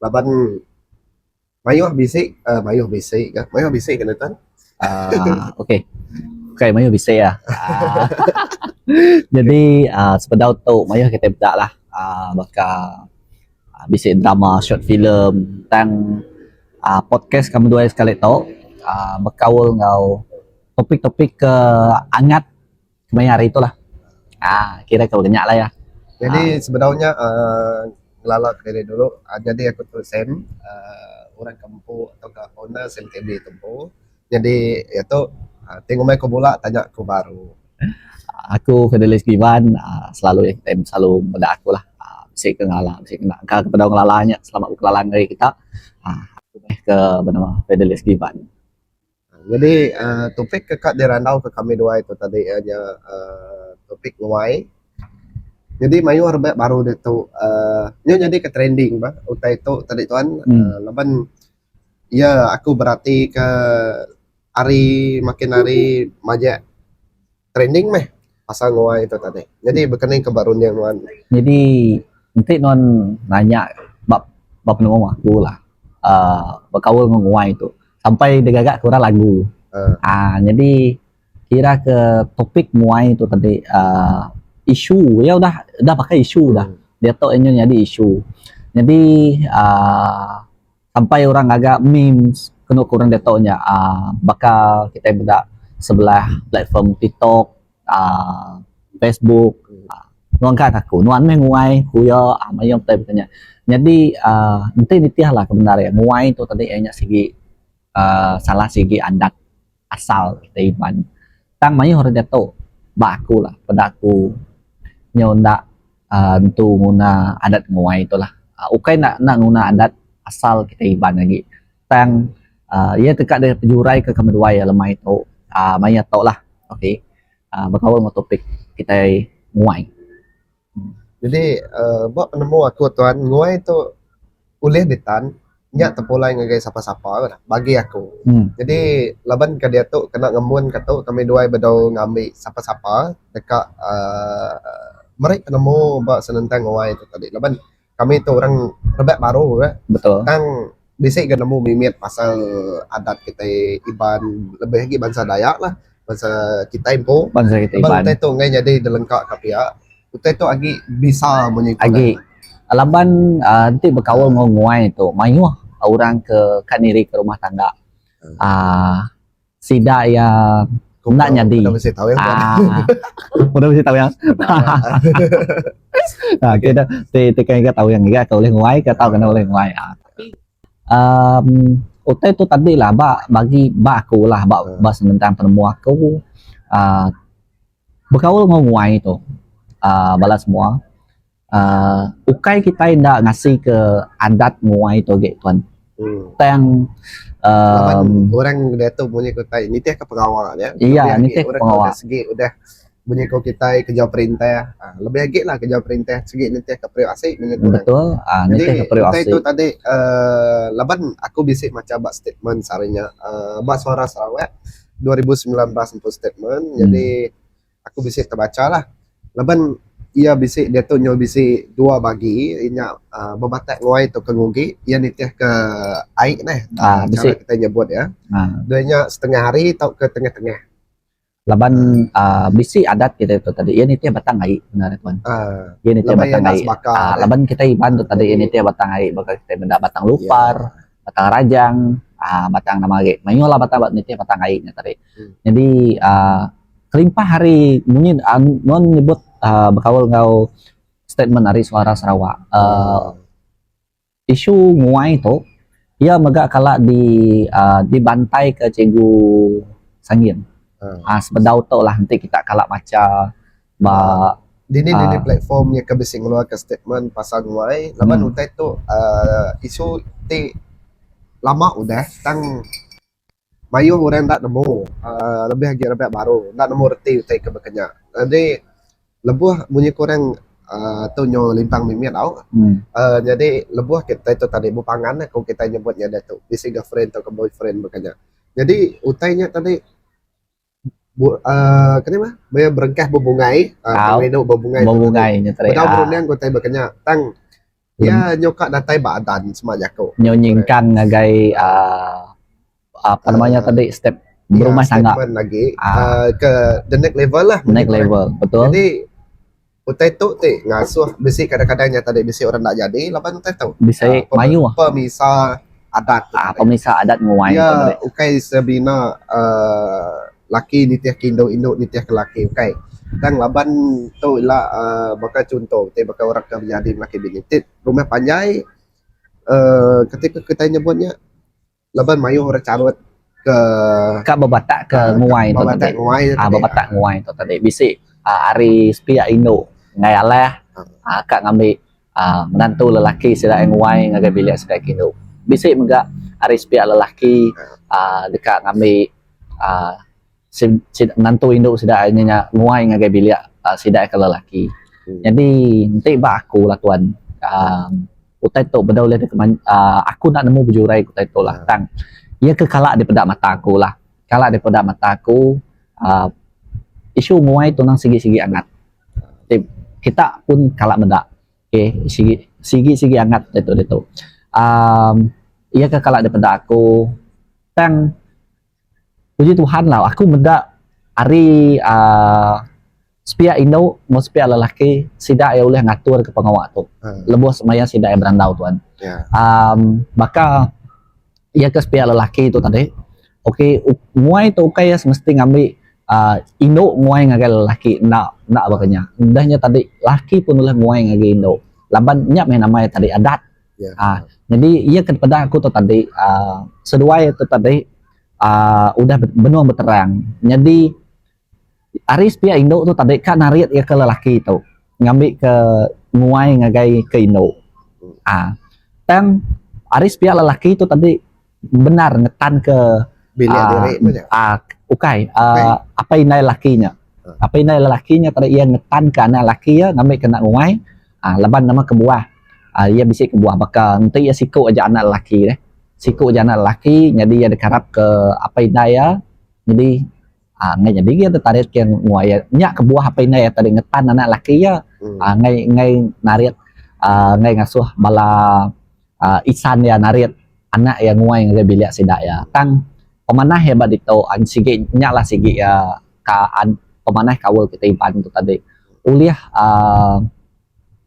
laban mayuh bisi uhh mayuh bisi ka mayuh bisi ka nutan uhh ok ok mayuh bisi ka uhh jadi uhh sepedau tu mayuh kitai peda lah uhh baka bisi drama short film tang uhh podcast ka menua sekali tu uhh bekaul enggau topik topik ka angat Maya hari tu lah. Haa kira ke nya lah ya. Jadi sebedau nya uhh ngelala kediri dulu uhh nyadi aku tu Sam uhh orang ke empu tauka owner Sam TV tu empu nyadi iya tu ti ngumbai ku bula tanya ku baru. Aku Fidelis Givan uhh selalu Sam selalu meda aku lah uhh bisi ke ngelala bisi ke enda. Engka ke pedau ngelala nya selamat bekelala ngagai kita uhh aku meh ke benama Fidelis Givan. Nyadi topik ke ka dirandauka kami dua iku tadi iya nya aaa topik nguai. Nyadi mayuh raban baru ditu aaa nya nyadi ka trending bah utai tu tadi tuan laban iya aku beratika hari makin hari majak training meh pasal nguai ito tadi jadi bekening ke ba runding nuan. Nyadi enti nuan nanya ba ba penemu aku lah aaa bekaul enggau nguai tu sampai digaga ke orang lagu aaa nyadi kira ke topik nguai tu tadi aaa isu iya udah udah pakai isu dah diatu inya nyadi isu. Nyadi aaa Sampai orang ngaga memes kenu ku orang diatu nya uhh baka kitai meda sebelah platform tiktok uhh facebook nuan ngga ke aku nuan meh nguai ku iya mayuh pia baka nya nyadi uhh enti nitihlah ke bendar iya nguai tu tadi iya nya sigi uhh salah sigi adat. asal kita iban tang mayuh orang jato ba aku lah peda aku nyau enda entu nguna adat nguai tu lah ukai enda enda nguna adat asal kita iban agi tang uhh iya teka deh pejurai ke kami duai lemai tu uhh mayuh ato lah ok bekaul enggau topik kitai nguai. Jadi aaa ba penemu aku tuan nguai tu ulih ditan nya tepulai ngagai sapa-sapa la dah bagi aku. Jadi laban ka diatu kena ngemun ka tu kami duai bedau ngambi sapa-sapa deka aaa meri penemu ba senentang nguai tu tadi laban kami tu orang rebak baru nya betul tang bisi ga nemu mimit pasal adat kitai iban lebih agi bansa dayak lah bansa kitai empu bansa kitai iban utai tu ngai nyadi belengkak ka pia utai tu agi bisa munyi tu agi laban um enti bekaul enggau nguai tu mayuh orang ke ka niri ka rumah tangga um Sida iya enda nyadi. Udah mesti tahu yang. Ah. Udah mesti tahu yang. Ah, kita ti ti kan tahu yang iya ke oleh nguai ke tahu kena oleh nguai. Ah. Um, utai tu tadi lah ba bagi ba aku lah ba ah. ba sementang penemu aku. Ah, berkaul dengan nguai tu. Ah, balas semua. uh, ukai kitai enda ngasi ke adat muai tu agi tuan hmm. tang um, orang dia tu bunyi kau tai nitih ke pengawa dia iya nitih ke pengawa segi udah bunyi kau kitai kerja perintah uh, lebih lagi lah kerja perintah segi nitih ke periuk asik bunyi tu betul uh, nitih ke periuk asik tu tadi uh, laban aku bisi macam bak statement sarinya uh, bak suara Sarawak 2019 untuk statement hmm. jadi Aku bisi tebacha lah laban iya bisi diatu nyau bisi dua bagi inya uhh bematak nguai tu ke ngugi iya nitih ke ai neh uhh chara kitai nyebut iya deh inya setengah hari tauka tengah tengah. Laban uhh bisi adat kitai tu tadi iya nitih batang ai nya neh tuan uhh iya nitih batang ai laban kitai iban tu tadi iya nitih batang ai baka kitai meda batang lupar batang rajang aaa batang nama agi mayuh lah batang nitih batang ai nya tadi nyadi aaa kelimpah ari munyi aaa nuan nyebut aaa bekaul enggau statement ari suara sarawak aaa isu nguai tu iya mega kala di aaa dibantai ka cikgu sangin aaa sebedau tu lah enti kita kala macha. Ba. Dini dini platform iya ke bisi ngeluarka statement pasal nuai laban utai tu uhh isu ti lama udah tang mayuh orang enda nemu uhh lebih agi raban baru enda nemu reti utai ke baka nya. Jadi lebuh munyi ku orang uhh tu nyu limpang mimi tau uhh jadi lebuh kitai tu tadi bepangan ku kitai nyebut nya diatu bisi girlfriend tauka boyfriend baka nya. Jadi utai nya tadi. uh, kena mah maya berengkah bebungai uh, tang leno bebungai bebungai nya tadi bedau berundang ko tai bekenya tang ya nyoka datai ba adan sema jako nyo nyingkang ngagai uh, apa namanya uh, tadi step ya, berumah tangga lagi uh, uh, ke the next level lah next level betul jadi Utai tu ti ngasuh bisi kadang-kadang nyata deh bisi orang enda jadi laban utai tu. Bisi mayuh. Pemisa adat. Aaa pemisa adat nguai. Iya ukai sebina aaa laki nitih ke indu, indu nitih ke laki ukai. Tang laban tu ila aaa baka chunto ti baka orang ke menyadi laki bini ti rumah panjai aaa kati ke kitai nyebut nya. Laban mayuh orang charut ke. Ka bebatak ke nguai tu tadi. Ka bebatak nguai tu tadi. Bisi ari sepiak indu enggai alah ka ngambi menantu lelaki sida iya nguai ngagai bilik sida iya kindu. Bisi mega ari sepiak lelaki deka ngambi. Sida sida menantu indu sida ai nya nguai ngagai bilik sida ke lelaki. Nyadi enti ba aku lah tuan uhh utai tu beda ulih deka manj uhh aku enda nemu bejurai ke utai tu lah tang iya ke kala dipeda mata aku lah kala dipeda mata aku uhh isu nguai tu nang sigi sigi angat ti kita pun kala meda okay sigi sigi sigi angat diatu diatu uhh iya ke kala dipeda aku tang. Puji Tuhan lah aku meda ari aaa sepiak indu enggau sepiak lelaki sida iya ulih ngatur ke pengawa tu lebuh semaya sida iya berandau tuan. Aaa baka iya ke sepiak lelaki tu tadi ok nguai tu ukai iya semesti ngambi aaa indu nguai ngagai lelaki enda enda baka nya. Udah nya tadi lelaki pun ulih nguai ngagai indu laban nya meh nama iya tadi adat. Aaa nyadi iya ke peda aku tu tadi aaa seduai tu tadi aaa udah benung beterang nyadi ari sepia indu tu tadi ka narit iya ke lelaki tu ngambi ke nguai ngagai ke indu aaa tang ari sepia lelaki tu tadi. bendar ngetanka Bilik diri nya nya. aa ukai aa apai indai laki nya. Apai indai lelaki nya tadi iya ngetanka anak laki iya ngambika enda nguai aa laban nama kebuah aa iya bisi kebuah baka enti iya siku aja anak lelaki deh. Siku aja anak lelaki nyadi iya dikarapka apai indai iya nyadi. Ngai nyadi iya tu tarit ke mua iya. Nya kebuah apai indai iya tadi ngetan anak laki iya ngai ngai narit aaa ngai ngasuh bala aaa isan iya narit anak iya nguai ngagai bilik sida iya. Tang pemanah iya ba ditu an sigi nya lah sigi iya ka an pemanah kaul kita Iban tu tadi ulih aaa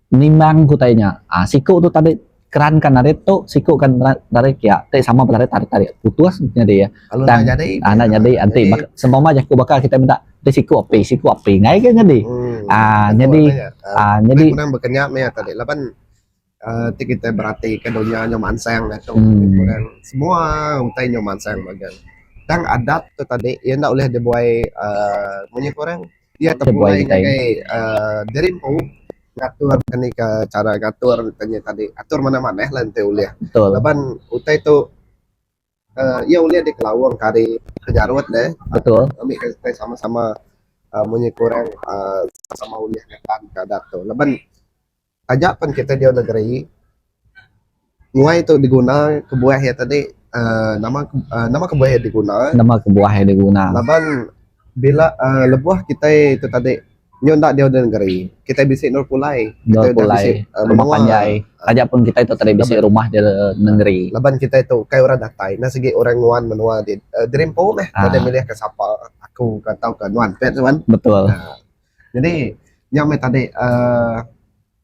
Nimbang ku tarit nya, siku tu tarit keran ka narit tu, siku ka narit kia ti sama ba narit tarit-tarit putus nyadi iya. Tang enda nyadi enti seumpama jaku baka kitai meda ti siku api, siku api nggai ga nyadi uhh nyadi uhh nyadi. Lebih kurang bekenya meh iya tarit laban uhh ti kitai berati ka dunya nyau mansang nya tu semua utai nyau mansang mega. Tang adat tu tadi iya enda ulih dibuai uhh munyi ku orang. Iya ke pulai ngagai uhh diri empu ngatur nih ka chara ngatur nya tadi atur manah manah lah enti ulih laban utai tu uhh iya ulih dikelaung ka ari penyarut ne ami ke tai sama sama uhh munyi kurang uhh sama ulih ngeban ka adat tu laban Taja pen kita diau negeri nguai tu diguna kebuah iya tadi uhh nama uhh nama kebuah iya diguna nama kebuah iya diguna laban bila uhh lebuh kitai tu tadi nyau enda diau negeri kitai bisi endur pulai endur pulai rumah panjai taja pun kitai tu tadi bisi rumah diau negeri laban kitai tu kai orang datai enda sigi orang nguan menua ti gerimpung meh tau deh milih ka sapa aku ka tau ka nuan pia nuan betul. Jadi nya meh tadi uhh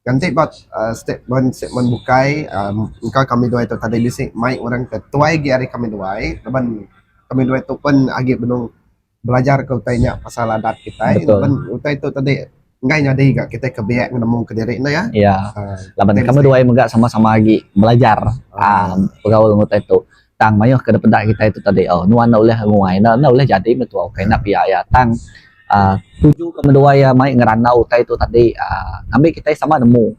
ganti ba uhh statement statement bukai uhh engka kami duai tu tadi bisi mai orang ke tuai agi ari kami duai laban kami duai tu pun agi benung belajar ke utai nya pasal adat kitai laban utai tu tadi enggai nyadi ga kitai ke biak nemu kediri ne iya. Iya laban kami duai mega sama sama agi belajar uhh begaul enggau utai tu. Tang mayuh ke dipeda kitai tu tadi oh nuan enda ulih nguai enda enda ulih jadi mentua ukai enda pia iya tang aaa tuju ke menua iya mai ngerandau utai tu tadi aaa ngambi kitai sama nemu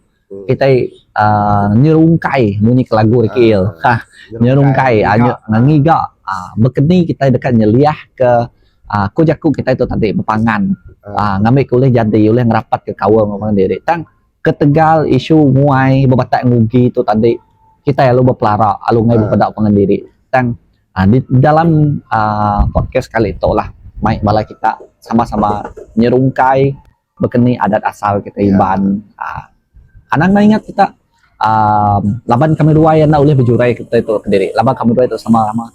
kitai aaa nyerungkai munyi ke lagu rikih iya ha nyerungkai aaa ngiga aaa bekeni kitai deka nyeliah ke aaa ku jaku kitai tu tadi bepangan aaa ngambi ke ulih jadi ulih ngerapatka kaul ngeban diri tang Ketegal isu nguai bebatai ngugi tu tadi, kitai alu bepelara alu ngai bepeda pangan diri. Tang di dalam aaa podcast kali tu lah mai bala kita sama-sama nyerungkai bekeni adat asal kitai Iban aaa anang ne ingat kita aaa laban kami duai enda ulih bejurai kitai tu kediri laban kami duai tu sama-sama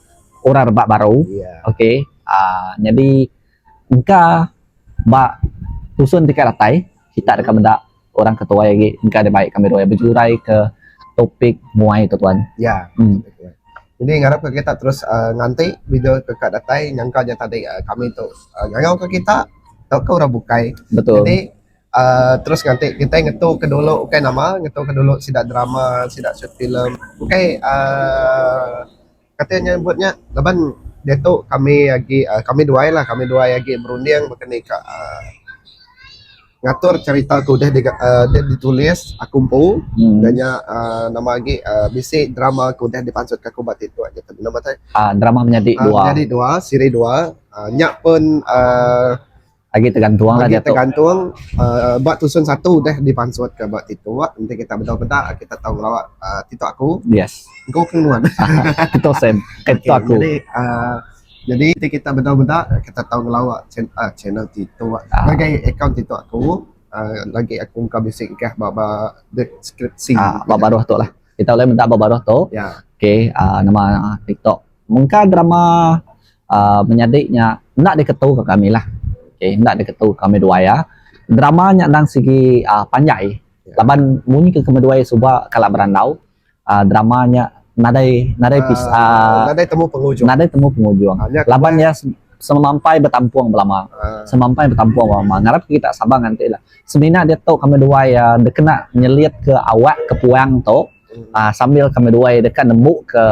orang rebak baru. Okey aaa nyadi. Engka ba tusun ti kai datai kita deka meda orang ke tuai agi engka deh baik kami dua bejurai ke topik muai tu tuan. Ya. Jadi ngarap ka kita terus aaa nganti video tu ka datai nyangka nya tadi aaa kami tu ngangau ka kita tauka orang bukai. Betul. Jadi aaa terus nganti kitai ngetu ka dulu ukai nama ngetu ka dulu sida drama sida short film ukai aaa kati inya nyebut nya laban diatu kami agi uhh kami duai lah kami duai agi berunding baka ni ka uhh ngatur cerita ti deh uhh deh ditulis aku empu da nya uhh nama agi uhh bisi drama ti deh dipansut ka aku ba ti tu aja panu batai uhh drama menyadi dua siri dua uhh nya pun uhh Agi tergantung lah diatu. Agi tergantung uh, ba tusun satu dah dipansut ke ba titu wak enti kita bedau beda kita tahu ngelawa uh, titu aku. Yes. Go ke nuan. Titu sem. Eh titu aku. Jadi uh, jadi enti kita bedau beda kita tahu ngelawa channel, uh, channel titu wak. Uh. Lagi account titu aku. Uh, lagi aku engkau bisi kah ba ba deskripsi. Uh, ba baruh tu lah. Kita boleh minta ba baruh tu. Ya. Yeah. Okay, uh, nama uh, TikTok. Mengka drama uhh menyadi nya enda diketu ka kami lah. Okay enda diketu ka kami duai uhh. Drama nya endang sigi uhh panjai laban munyi ke kami duai suba kala berandau uhh drama nya nadai nadai episode uhh nadai temu pengujung. Nadai temu pengujung laban iya semampai betampung belama. Semampai betampung belama. Ngarap ke kita sabar nganti lah. Semina diatu kami duai uhh dikena nyelit ke awak ke puang tu uhh sambil kami duai deka nembu ke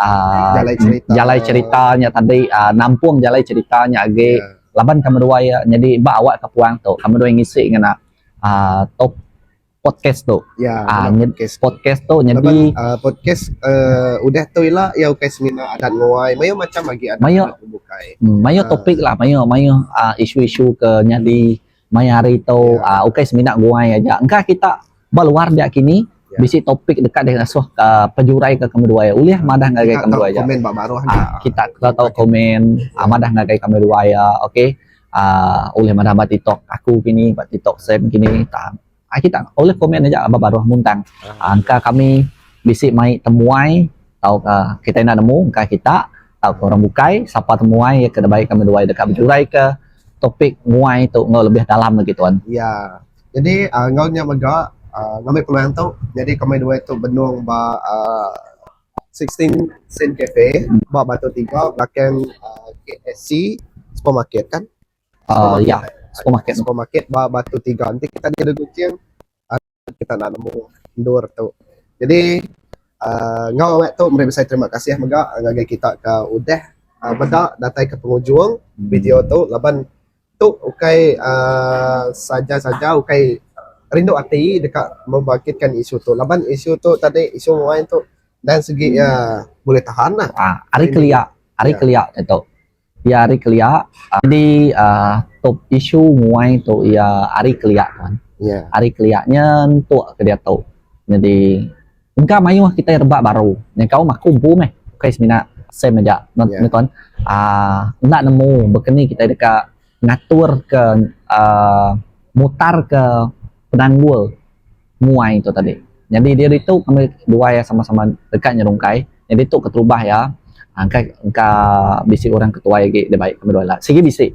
uh, jalai cerita jalai cerita nya tadi uh, nampung jalai cerita nya agi yeah. laban kami dua ya jadi ba awak ke puang tu kami dua ngisi ngena uh, top podcast tu ya yeah, uh, podcast, podcast tu jadi laban, uh, podcast uh, udah tu ila ya ukai semina adat nguai mayu macam lagi adat mayu, bukai hmm, mayu uh, topik lah mayu mayu uh, isu-isu ke nyadi Maya hari tu yeah. ukai semina guai aja engka kita ba luar dia kini yeah. bisi topik dekat dia ngasuh ke uh, pejurai ke kami dua ya ulih yeah. madah ngagai kami dua ya komen ba baruh ha, kita kita tahu komen yeah. uh, madah ngagai kami dua ya okey uh, ulih madah ba tiktok aku kini ba tiktok sen kini tak Aki tak ulih komen aja ba baruh muntang engka kami bisi mai temuai tauka kitai enda nemu engka kita tauka orang bukai sapa temuai iya ke dibai kami duai deka bejuraika topik muai tu enggau lebih dalam lagi tuan. Iya. Jadi aaa enggau nya mega aaa ngambi peluang tu nyadi kami duai tu benung ba aaa sixteen sen cafe ba Batu Tingga belakang aaa KFC supermarket kan. Uh, ya, supermarket. Supermarket ba Batu Tiga. Nanti kita ada kucing, uh, ah, kita nak nemu endur tu. Jadi, uh, ngau awak tu, mari besai terima kasih mega ngagai kita ke udah uh, ah, beda datai ke pengujung hmm. video tu. Laban tu ukai uh, saja-saja, ukai rindu hati dekat membangkitkan isu tu. Laban isu tu tadi, isu main tu, dan segi hmm. uh, boleh tahan lah. Uh, hari kelia, hari ya. kelia itu. Iya ari kelia jadi top isu nguai tu iya ari kelia tuan ari kelia nyen tok ke diatu jadi engka mayuh kitai rebak baru nyengkaum aku aku empu meh bukai semina same aja nya tuan uhh enda nemu baka ni kitai deka ngatur ke uhh mutar ke penanggul muai tu tadi nyadi diaritu kami dua iya sama-sama deka nyerungkai nyadi tu keterubah iya engka engka bisi orang ketuai agi da bai kami dua ila sigi bisi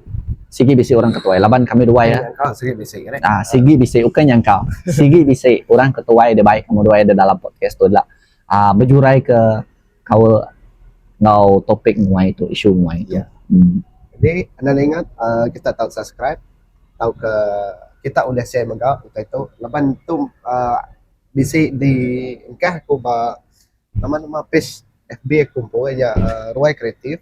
sigi bisi orang ketuai laban kami dua iya aaa sigi bisi aaa sigi bisi ukai nyangka sigi bisi orang ketuai da bai kami dua iya da dalam podcast tu ila aaa bejuraika. kaul enggau topik nguai tu isu nguai tu jadi enda ningat uhh kita tau subscribe tauka kita ulih share mega utai tu laban tu uhh bisi di engkah ku ba nama nama page fb aku empu iya uhh ruai kreatif